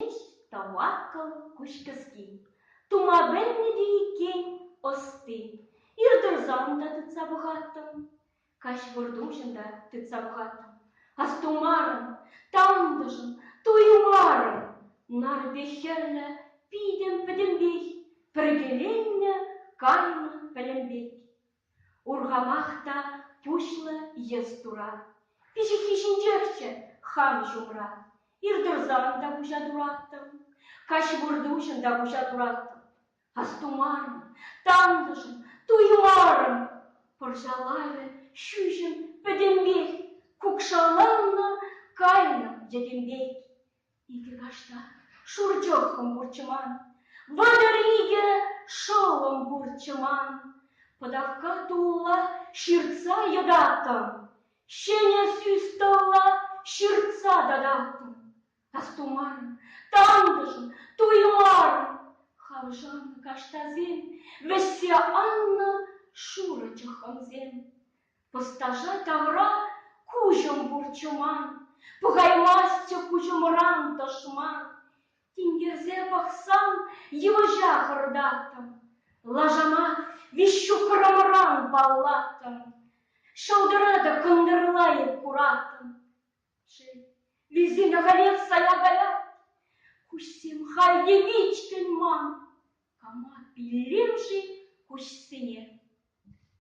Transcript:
Ӗҫ тамакӑн куҫкӗски. Тума пӗлнӗ те иккен ӑсти. Ир тӑрсан та тытса пӑхаттӑм. Каҫ выртуҫӑн та тытса пӑхаттӑм. Астумарӑм, тантӑшӑм, туймарӑм. Нарпи хӗрлӗ питӗм пӗтӗмпех, пӗркеленнӗ кайнӑ пӗлӗм пек. Урхамах та пуҫлӑ йӑс тура. Пиҫиххи ҫинчехчӗ хам ҫумра. Иртӑрсан та куҫа тураттӑм, каҫ выртуҫӑн та куҫа тураттӑм. Астумарӑм, тантӑшӑм, туймарӑм. Пӑрҫа лавӗ ҫӳҫӗм пӗтӗмпех кукшаланнӑ, кайнӑ йӗтем пек. Икӗ кашта шурчӑххӑм пурчӑман, Вӑтӑр икӗ шӑллӑм пурчӑман. Пӑтавкка тулла ҫыртса йӑтаттӑм, Ҫӗнӗ сӳс-тӑлла ҫыртса тататтӑм. Астумарӑм, тантӑшӑм, туймарӑм, Хавшанӑ каштасем вӗҫсе аннӑ шурӑ чӑххӑмсем. Ӑсташа тавра куҫӑм курчӑман, Пӑхаймастчӗ куҫӑмран тӑшман. Тинкерсе пӑхсам, йывӑҫа хӑртаттӑм, Лашана виҫҫухрӑмран паллаттӑм, Шӑлтӑра та кӑнтӑрла эп кураттӑм. Шел, вилсен ахалех сая каять, Куҫсем халь те вичкӗн ман, Кама пиллем-ши куҫсене?